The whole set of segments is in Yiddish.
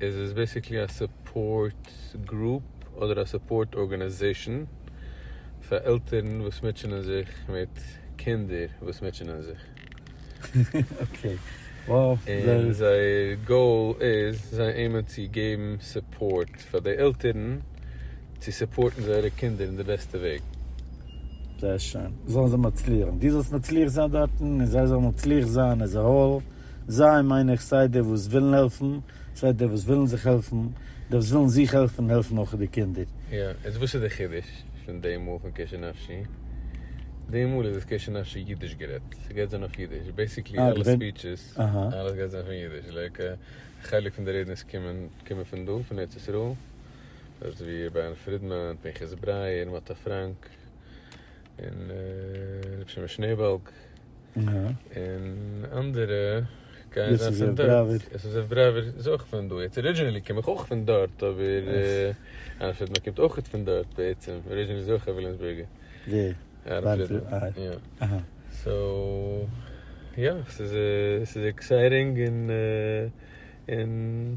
איז עס בעסיקלי א סופארט גרופ אדער א סופארט ארגאניזעישן פאר עלטערן וואס מוטשענען זיך מיט קינדער וואס מוטשענען זיך. און זייער גאול איז, זיי עימען צו געבן סופארט פאר די עלטערן צו סופארטן זייערע קינדער אין די בעסטע וועג. זייער שיין. זאלן זיי מצליח זיין. דו זאלסט מצליח זיין דארטן און זיי זאלן מצליח זיין עז עהאל. זיי מיין איך סיי די וואס ווילן העלפן, סיי די וואס ווילן זיך העלפן, די וואס ווילן זיך העלפן העלפן אויך די קינדער. יא, איז וואס איז די חידוש פון די מאל פון קשר נפשי? די מאל איז עס קשר נפשי אידיש גערעדט, ס'גייט זיין אויף אידיש, בעיסיקלי אלע ספיטשעס, אלעס גייט זיין פון אידיש, לייק חלק פון די רעדענעס קומען קומען פון דא פון ארץ ישראל, דארט איז ווי רבי אהרן פרידמאן, פנחס ברייער, מאטא פראנק, און רבי שמעון שנעבאלג. און אנדערע גייען זיין פון דארט, עס איז אויף בראווער איז אויך פון דא, יעצט ארידזשינעלי קום איך אויך פון דארט אבער אלפרעד מען קומט אויכעט פון דארט בעצם, ארידזשינעלי איז אויך א וויליאמסבורגער. ווער? בארג פרידמאן? יא. אהא. סאו יא, עס איז עקסייטינג און.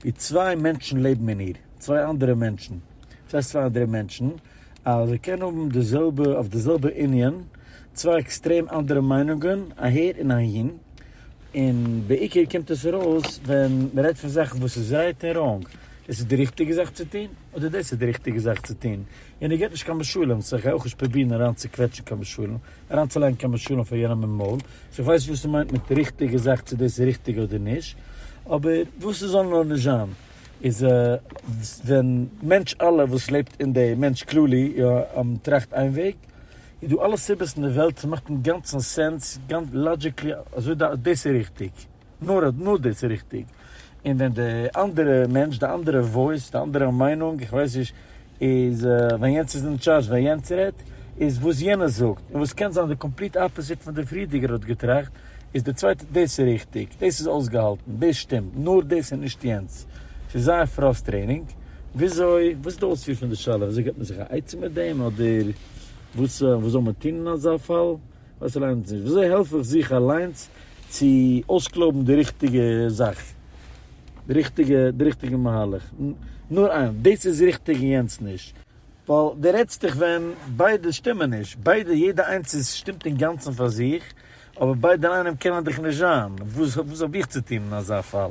ווי צוויי מענטשן לעבן אין איר, צוויי אנדערע מענטשן, דאס הייסט צוויי אנדערע מענטשן, אז ער קען האבן די זעלבע, אויף די זעלבע ענין, צוויי עקסטרעם אנדערע מיינונגען אהער און אהין, און בעיקר קומט עס ארויס ווען מען רעדט פון זאכן וואס איז רייט און ראנג, דאס איז די ריכטיגע זאך צו טון, אדער דאס איז די ריכטיגע זאך צו טון, און ער געבט נישט קיין משלים, סא איך גיי אויך נישט פרובירן אריינצוקוועטשן קיין משלים, אריינצולייגן קיין משלים פאר יענעם אין מויל, סאו איך ווייס נישט וואס ס'מיינט מיט ריכטיגע זאך צו דאס איז ריכטיג אדער נישט, אבער וואס ס'זאל נאר נישט זיין איז ווען מענטש אלע וואס לעבט אין די מענטש כללי יא טראכט איין וועג איז דא אלע סיבות אין די וועלט ס'מאכט אינגאנצן סענס גאנץ לאדזשיקלי אזוי דאס איז ריכטיג. נאר אז נאר דאס איז ריכטיג, און ווען די אנדערע מענטש, די אנדערע וואויס, די אנדערע מיינונג, איך ווייס נישט, איז ווען יענץ איז אין טשארדזש, ווען יענץ רעדט, איז וואס יענער זאגט, און וואס קען זיין די קאמפליט אפאזיט פון די פריערדיגער האט געטראכט, איז די צווייטע, דאס איז ריכטיג, דאס איז אויסגעהאלטן, דאס שטימט, נאר דאס און נישט יענץ. ס'איז זייער פראסטרענינג. וויאזוי, וואס איז די אויספיר פון די שאלה? וויאזוי געבט מען זיך א עצה מיט דעם? אדער וואס, וואס זאל מען טון אין אזא פאל? וואס ליינט נישט? וויאזוי העלף איך זיך אליינס צו אויסקלויבן די ריכטיגע זאך? די ריכטיגע די ריכטיגע מהלך? נאר איין, דאס איז ריכטיג און יענץ נישט. ווייל דו רעדסט דיך ווען ביידע שטימען נישט. ביידע יעדע איינס איז שטימט אינגאנצן פאר זיך, אבער ביידע אינאיינעם קענען דיך נישט זיין. וואס האב איך צו טון אין אזא פאל?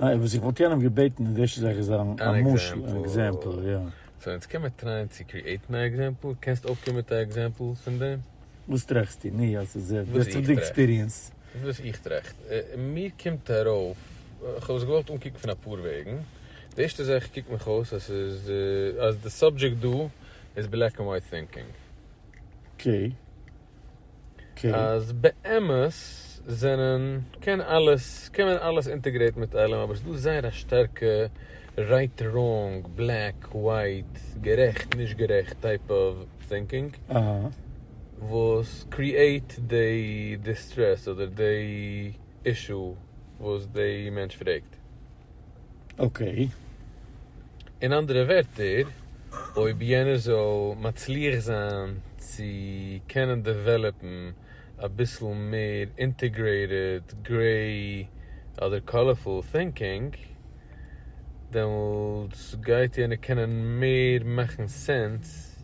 ניין וואס איך וואלט יענעם געבעטן איז דאס זאל איך זיין א משל אן עקזעמפל יא. סאו יעצט קען מען טרייען צו קריעטן א עקזעמפל, קענסט אויפקומען מיט א עקזעמפל פון דעם? וואס טראכסטו? נו יא ס'איז ער, דאס איז דאך די עקספיריענס. וואס איך טראכט? מיר קומט ארויף, איך האב עס געוואלט אנקוקן פון אפאר וועגן, די ערשטע זאך קוקט מיך אויס אז ס'איז אז די סאבדזשעקט דא איז בלעק ענד ווייט טינקינג. אקעי. אז באמת זענען קען אלעס קען מען אלעס אינטעגרעיטן מיט אלעם אבער ס'דא זייער א שטארקע רייט ראנג בלעק ווייט גערעכט נישט גערעכט טייפ אוו טינקינג וואס קריעיט דעי דיסטרעס אדער דעי אישו וואס דעי מענטש פרעגט. אקעי. אין אנדערע ווערטער, אויב יענער זאל מצליח זיין צו קענען דעוועלאפן אביסל מער אינטעגרעיטעד גרעי אדער קאלערפול טינקינג, דעמאלטס גייט יענער קענען מער מאכן סענס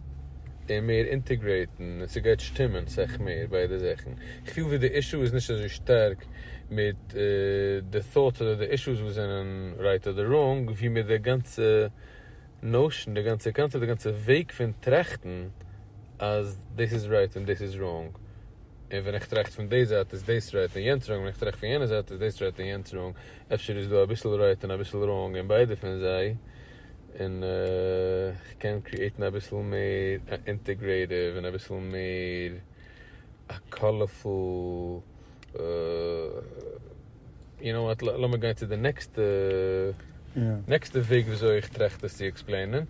און מער אינטעגרעיטן און ס'גייט שטימען סך מער ביידע זאכן. איך פיל ווי די אישו איז נישט אזוי שטארק מיט די thoughts אדער די אישוס וואס זענען רייט אדער ראנג, ווי מיט די גאנצע נאושען, די גאנצע קאנצעפט, די גאנצע וועג פון טראכטן אז דאס איז רייט און דאס איז ראנג, און ווען איך טראכט פון די זייט איז דאס רייט און יענץ ראנג, ווען איך טראכט פון יענע זייט איז דאס רייט און יענץ ראנג, אפשר איז דא אביסל רייט און אביסל ראנג אין ביידע פון זיי, און איך קען קריעטן אביסל מער א אינטעגרעטיוו און אביסל מער א קאלערפול. יו נאו וואט, לאמיר גיין צו די נעקסטע, נעקסטע וועג וויאזוי איך טראכט עס צו עקספלעינען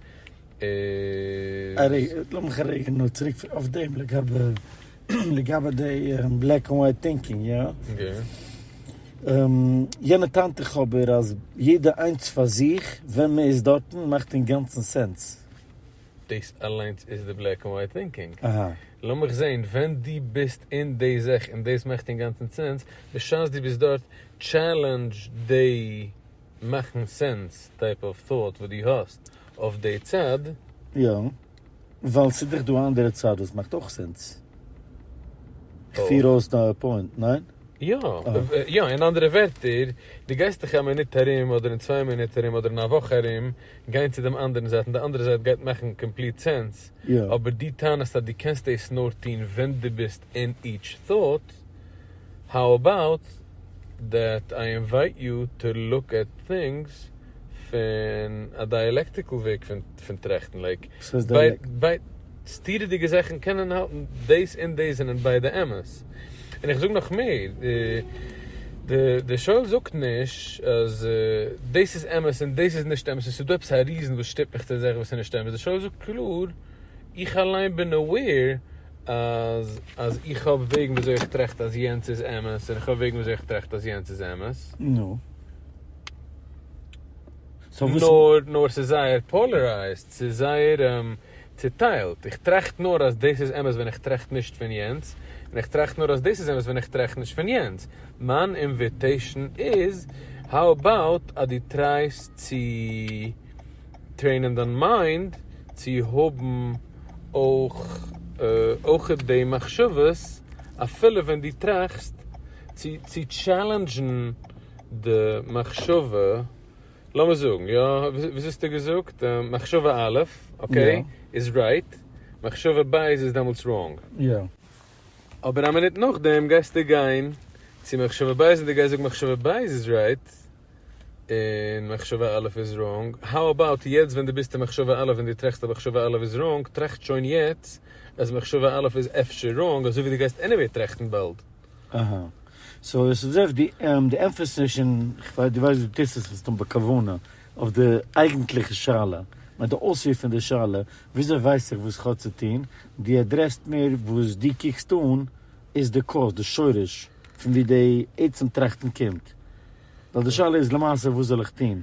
איז. לאמיך א רגע נאר צוריק אויף דעם לגבי, לגבי די בלעק ענד ווייט טינקינג, יא? יענע טענה'ט דאך אבער אז יעדע איינס פאר זיך ווען מען איז דארטן מאכט אינגאנצן סענס. דאס אליינס איז די בלעק ענד ווייט טינקינג. לאמיך זעהן, ווען דו ביסט אין די זעך און דאס מאכט אינגאנצן סענס, בשעת דו ביסט דארט, טשעלענדזש די מאכן סענס טייפ אוו טאוט וואס דו האסט אויף די צד. יא, ווייל ס'איז דאך דא א אנדערע צד וואס מאכט אויך סענס. איך פיר אויס דיין פוינט, ניין? יא, יא, אין אנדערע ווערטער, דו גייסט דאך א מינוט ארום אדער אין צוויי מינוט ארום אדער אין א וואך ארום גיין צו דעם אנדערן זייט און די אנדערע זייט גייט מאכן קאמפליט סענס, אבער דו טענה'סט אז דו קענסט דאס נאר טון ווען דו ביסט אין איטש thought, האו אבאוט דעט איי אינווייט יו טו לוק עט טינגס? פון א דייעלעקטיקל וועג פון טראכטן, לייק, סתירה'דיגע זאכן קענען האלטן, דאס און דאס זענען ביידע אמת, און איך זאג נאך מער, דער שואל זאגט נישט אז דאס איז אמת און דאס איז נישט אמת, ס'איז דא עפעס א ריזען וואס שטופט מיך צו זאכן וואס איז נישט אמת, דער שואל זאגט קלאר, איך אליין בין אוועיר אז איך האב וועגן ווי אזוי איך טראכט אז יענץ איז אמת, און איך האב וועגן ווי אזוי איך טראכט אז יענץ איז אמת. נו, נאר נאר ס'איז זייער פאלערייזד, ס'איז זייער צעטיילט, איך טראכט נאר אז דאס איז אמת ווען איך טראכט נישט פון יענץ, און איך טראכט נאר אז דאס איז אמת ווען איך טראכט נישט פון יענץ, מיין אינוויטעישן איז, האו אבאוט אז דו טרייסט צו טרעינען דיין מיינד צו האבן אויך די מחשבות אפילו ווען דו טראכסט צו טשעלענדזשן. די מחשבה, לאמיר זאגן, יא, וויאזוי האסטו געזאגט? מחשבה א', אקעי, איז רייט, מחשבה ב' איז דעמאלטס ראנג. יא. אבער א מינוט נאכדעם גייסטו גיין צו מחשבה ב' און דו גייסט זאגן מחשבה ב' איז רייט, און מחשבה א' איז ראנג. האו אבאוט יעצט ווען דו ביסט אין מחשבה א' און דו טראכסט אז מחשבה א' איז ראנג, טראכט שוין יעצט אז מחשבה א' איז אפשר ראנג, אזויווי דו גייסט עניוועי טראכטן באלד. אהא. סאו עס איז אויך די עמפעסיס אין, כ'ווייס דו ווייסט דו טוסט עס מסתם בכוונה, אויף די אייגנטליכע שאלה, מיט די אויספיר פון די שאלה, וויאזוי ווייס איך וואס כ'האב צו טון, דו אדרעסט מער וואס דו קוקסט אן איז די קאוז, די שורש, פון וואו די עצם טראכטן קומט. ווייל די שאלה איז למעשה וואס זאל איך טון?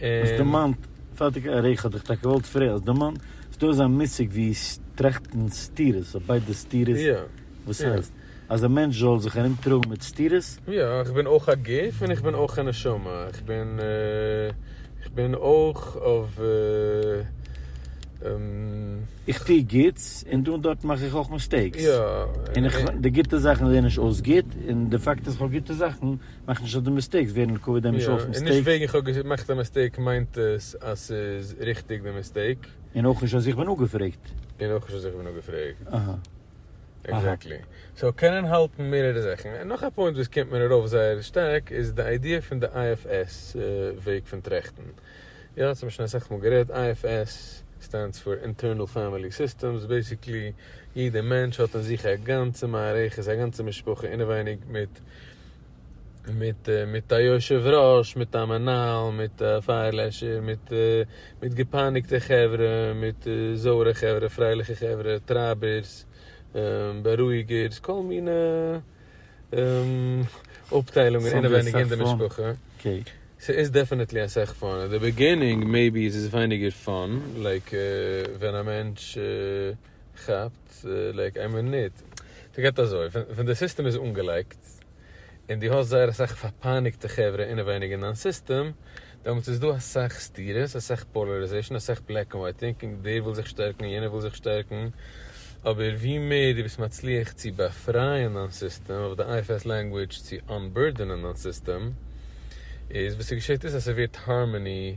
האסט דערמאנט פארטיגע עריכה, האט איך טאקע געוואלט פרעגן, האסט דערמאנט אז דא איז א מושג ווי טראכטן סתירות, אויף ביידע סתירות, וואס הייסט? אז א מענטש זאל זיך ארום טראגן מיט סתירות? יא, איך בין אויך א גוף און איך בין אויך א נשמה, איך בין איך בין אויך אויף. איך טוה גוטס און דא און דארט מאך איך אויך מיסטעיקס, און די גוטע זאכן זעען נישט אויס גוט, און די פאקט אז איך האב גוטע זאכן. מאך נישט אז די מיסטעיקס ווערן לטובת דעם נישט אלס מיסטעיקס. און נישט וועגן איך האב געמאכט א מיסטעיק מיינט עס אז ס'איז ריכטיג די מיסטעיק. און אויך נישט אז איך בין אפגעפרעגט. און אויך נישט אז איך בין אפגעפרעגט. אהה. עקזעקטלי. סאו קענען האלטן מערערע זאכן. און נאך א פוינט וואס קומט מיר ארויף זייער שטארק איז די איידיע פון די IFS וועג פון טראכטן. יא, ס'האט מען שוין אסאך מאל גערעדט. IFS סטענדס פאר אינטערנעל פעמילי סיסטעמס. בעיסיקלי יעדע מענטש האט אין זיך א גאנצע מערכת, א גאנצע משפחה אינעווייניג מיט. מיט מיט א יושב ראש מיט א מנהל מיט א פייער לעשער מיט מיט געפייניגטע חברה מיט זויערע חברה פרייליכע חברה טרייבערס בארואיגערס כל מיני אפטיילונגען אינעווייניג אין די משפחה ס'איז דעפענעטלי אסאך פאן אין די בעגינינג מעיבי איז עס ווייניגער פאן לייק ווען א מענטש כאפט לייק איין מינוט. ס'גייט אזוי, ווען די סיסטעם איז אנגעלייגט, און דו האסט זייער אסאך פארפייניגטע חברה אינעווייניג אין דיין סיסטעם, דעמאלטס איז דא אסאך סתירות, אסאך פאלעריזעישאן, אסאך בלעק ענד ווייט טינקינג, דער וויל זיך שטערקן און יענער וויל זיך שטערקן, אבער ווי מער דו ביסט מצליח צו באפרייען דיין סיסטעם, אויף די IFS לענגוויטש צו אנבורדענען דיין סיסטעם, איז וואס ס'געשעט איז אז ס'ווערט הארמאני,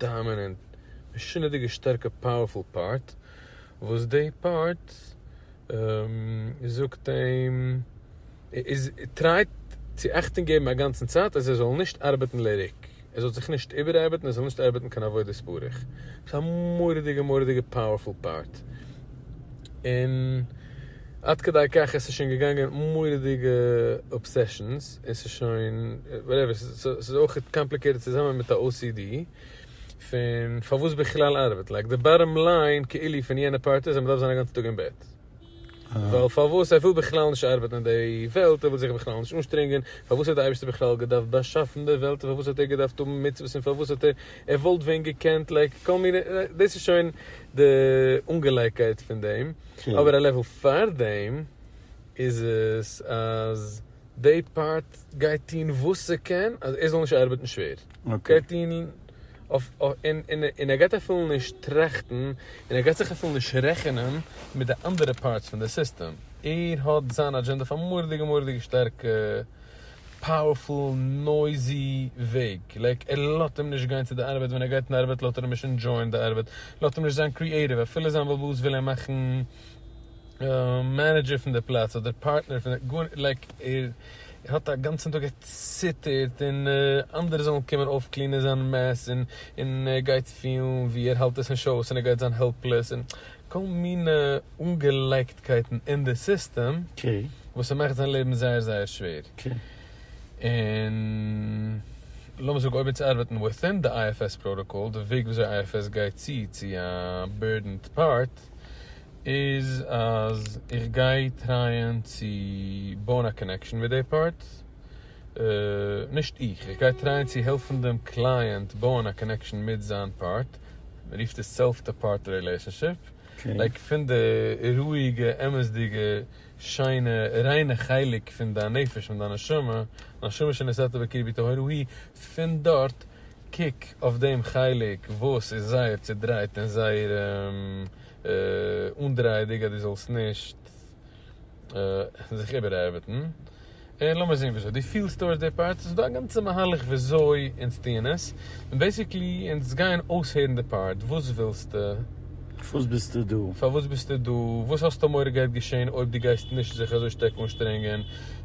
דאמינענט משונה'דיגע שטארקע פאוערפול פארט וואס די פארט זאגט אים איז טרייט צו אכטונג געבן אגאנצן צייט אז ער זאל נישט ארבעטן לריק ער זאל זיך נישט איבערארבעטן ער זאל נישט ארבעטן קיין עבודה ספאריך ס'איז א מורא'דיגע מורא'דיגע פאוערפול פארט און עד כדי כך עס איז שוין געגאנגען מורא'דיגע אבסעשאנס. עס איז שוין וואטעווער, ס'איז אויך קאמפליקעיטעד צוזאמען מיט א ocd פון פארוואס בכלל ארבעט, לייק די באטאם ליין כאילו פון יענע פארט איז אז מ'דארף זיין א גאנצע טאג אין בעט, ווייל פארוואס ער וויל בכלל נישט ארבעטן אין די וועלט, ער וויל זיך בכלל נישט אנשטרענגען, פארוואס האט די אייבערשטער בכלל געדארפט באשאפן די וועלט, און פארוואס האט ער געדארפט האבן מצוות, און פארוואס האט ער, ער וואלט ווען געקענט, לייק כל מיני, דאס איז שוין די אנגעלייגקייט פון דעם, אבער א לעוועל פאר דעם איז עס אז די פארט גייט טוהן וואס ס'קען אז ער זאל נישט ארבעטן שווער, גייט טוהן און ער גייט אפילו נישט טראכטן און ער גייט זיך אפילו נישט רעכענען מיט די אנדערע פארטס פון די סיסטעם, ער האט זיין אדזשענדע אויף א מורא'דיגע מורא'דיגע שטארקע פאוערפול נויזי וועג, לייק ער לאזט אים נישט גיין צו די ארבעט, ווען ער גייט אין ארבעט לאזט ער אים נישט ענדשויען די ארבעט, לאזט אים נישט זיין קריעטיוו, אפילו זיין בעל הבית וויל אים מאכן. מענעדזשער פון די פלאץ אדער פארטנער פון די גארנישט לייק ער האט א גאנצן טאג ער ציטערט און אנדערע זאלן קומען אויפקלינען זיין מעס און און ער גייט פילן ווי ער האלט עס נישט אויס און ער גייט זיין העלפלעס און כל מיני אנגעלייגטקייטן אין די סיסטעם וואס ס'מאכט זיין לעבן זייער זייער שווער און לאמיר זאגן אויב אונז ארבעטן וויטין די IFS פראטאקאל די וועג וויאזוי IFS גייט צו צו א בירדענד פארט איז אז איך גיי טרייען צו בויען א קאנעקשאן מיט די פארט, נישט איך, איך גיי טרייען צו העלפן דעם קלייענט בויען א קאנעקשאן מיט זיין פארט, מען רופט עס סעלף טו פארט רילעישאנשיפ, לייק פון די רואיגע אמת'דיגע שיינע ריינע חלק פון דיין נפש פון דיין נשמה, נשמה שנשאתה בקרבי טהור היא, פון דארט קוק אויף דעם חלק וואס איז זייער צודרייט און זייער אנדרייעדיג אז דו זאלסט נישט זיך איבערארבעטן, און לאמיר זען וויאזוי דו פילסט טויארדס די פארט, ס'איז דא א גאנצע מהלך וויאזוי אונז טוען עס, און בעיסיקלי אונז גייען אויסהערן די פארט, וואס ווילסטו? פארוואס ביסטו דא? פארוואס ביסטו דא? וואס האסטו מורא גייט געשען אויב דו גייסט נישט זיך אזוי שטארק אנשטרענגען?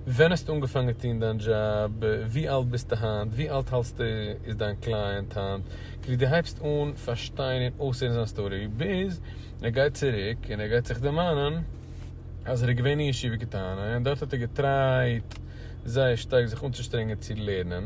ווען האסטו אנגעפאנגען טון דיין דזשאב? ווי אלט ביסטו היינט? ווי אלט האלסטו איז דיין קלייענט היינט? כדי דו הייבסט אן פארשטיין און אויסהערן זיין סטארי, ביז ער גייט צוריק און ער גייט זיך דערמאנען אז ער איז געווען אין ישיבה קטנה און דארט האט ער געטרייט זייער שטארק זיך אנצושטרענגען צו לערנען,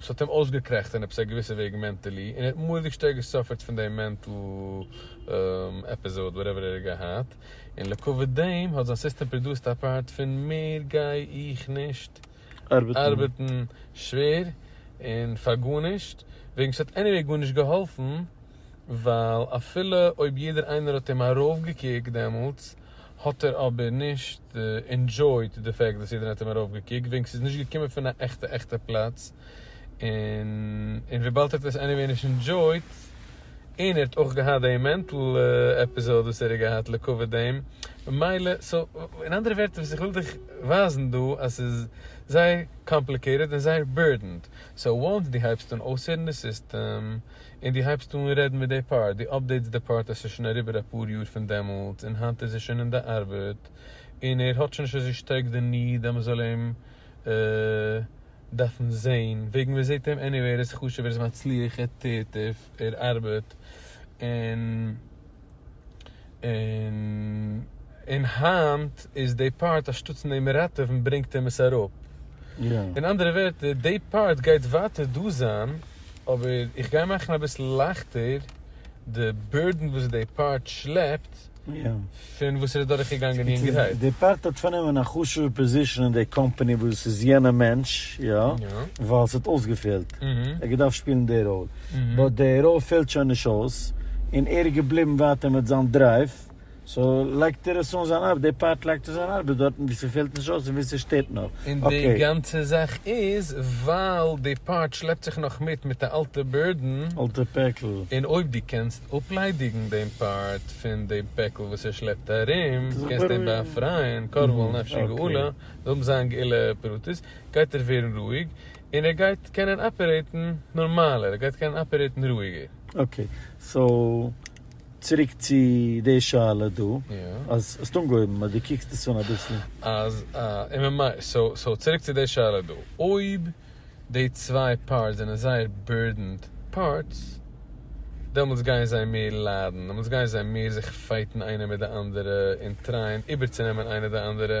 ס'האט אים אויסגעקרעכט אין עפעס א געוויסע וועג מענטעלי, און ער האט מורא'דיג שטארק געסאפערט פון דעם מענטל עפיזאד וואטעווער ער האט געהאט, און לעקאוויט דעם האט זיין סיסטעם פראדוסט א פארט פון מער גיי איך נישט ארבעטן שווער און פאר גארנישט, וועגן ס'האט עניוועי גארנישט געהאלפן, ווייל אפילו אויב יעדער איינער האט אים ארויפגעקוקט דעמאלטס האט ער אבער נישט אינדזשויט די פעקט וואס יעדער האט אים ארויפגעקוקט וועגן ס'איז נישט געקומען פון א עכטע עכטע פלאץ און און וויבאלד ער האט עס עניוועי נישט אינדזשויט און ער האט אויך געהאט די מענטל עפיזאד וואס ער האט געהאט לכבוד דעם ממילא סא אין אנדערע ווערטער וואס איך וויל דיך ווייזן דא אז ס'איז זייער קאמפליקעיטעד און זייער בורדענד סא וואנס דו הייבסט אן אויסהערן די סיסטעם און דו הייבסט אן רעדן מיט די פאר דו אפדעיטס די פארט אז ס'איז שוין אריבער אפאר יאר פון דעמאלטס און היינט איז ער שוין אין די ארבעט און ער האט שוין נישט אזוי שטארק די ניד אז מ'זאל אים דארפן זעהן וועגן מ'זעהט אים עניוועי ער איז חשוב ער איז מצליח ער טוט ער ארבעט און און היינט איז די פארט אז שטאטס נעמען ראטעווען ברענגט אים עס אראפ, אין אנדערע ווערטער די פארט גייט ווייטער דא זיין אבער איך גיי מאכן אביסל לייכטער די בורדען וואס די פארט שלעפט פון וואס ער איז דורך געגאנגען יונגערהייט. די פארט האט פארנומען א חשובע פאזישען אין די קאמפאני וואס עס איז יענע מענטש יא ווייל עס האט אויסגעפעלט, ער האט געדארפט שפילן די ראל. באט די רול פעלט שוין נישט אויס, און ער איז געבליבן ווייטער מיט זיין דרייוו, סאו לייגט ער עס אן זיין ארבעט, די פארט לייגט אן זיין ארבעט דארטן ווי ס'פעלט נישט אויס און ווי ס'שטערט נאר, אקעי. און די גאנצע זאך איז ווייל די פארט שלעפט זיך נאך מיט מיט א אלטע בורדען. אלטע פעקל. און אויב די קענסט אפליידיגן דעם פארט פון די פעקל וואס ער שלעפט ארום, קענסט אים באפרייען, קרוב אל נפשי גאולה, זאל אים זיין גאולה פרטית, גייט ער ווערן רואיג, און ער גייט קענען אפערעיטן נארמאלער, ער גייט קענען אפערעיטן רואיגער. אקעי, סאו צוריק צו די שאלה דא, אז האסט אנגעהויבן אז דו קוקסט עס אן אביסל. אז א אם אם איי, סאו סאו צוריק צו די שאלה דא, אויב די צוויי פארטס זענען זייער בירדענד פארטס, דעמאלטס גייען זיי מער ליידן, דעמאלטס גייען זיי מער זיך פייטן איינער מיט די אנדערע און טרייען איבערצונעמען איינער די אנדערע,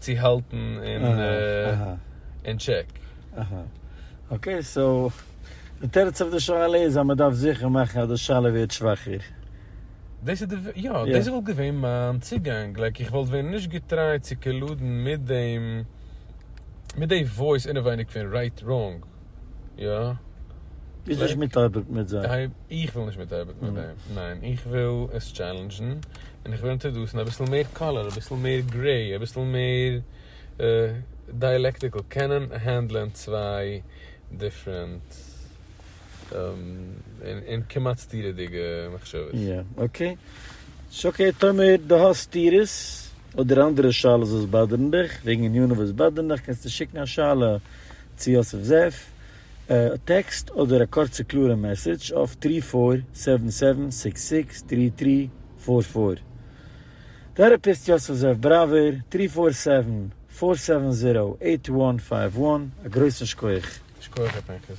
צו האלטן אין טשעק. אקעי, סאו די תירוץ אויף די שאלה איז אז מען דארף זיכער מאכן אז די שאלה ווערט שוואכער. דאס איז די, יא, דאס וואלט געווען מיין צוגאנג, לייק איך וואלט ווען נישט געטרייט צו קאלודן מיט דעם, מיט די וואויס אינעווייניג פון רייט ראנג. יא. ביזט נישט מתערבב מיט זיי? איך וויל נישט מתערבב מיט זיי, ניין, איך וויל עס טשעלענדזשן, און איך וויל אינטראדוסן אביסל מער קאלער, אביסל מער גרעי, אביסל מער דיאלעקטיקל, קענען הענדלען צוויי דיפרענט און כמעט סתירה'דיגע מחשבות. יא, אקעי. ס'אקעי טאמער דו האסט סתירות, אדער אנדערע שאלות וואס באדערן דיך, וועגן ענינים וואס באדערן דיך, קענסטו שיקן א שאלה צו יוסף זאב, א טעקסט אדער א קורצע קלארע מעסעדזש אויף טרי פאר סעווען סעווען סיקס סיקס טרי טרי פאר פאר. טערעפיסט יוסף זאב בראווער, טרי פאר סעווען פאר סעווען זירא עיט וואן פייוו וואן, א גרויסן שקויעך. שקויעך ע פ איינקעס.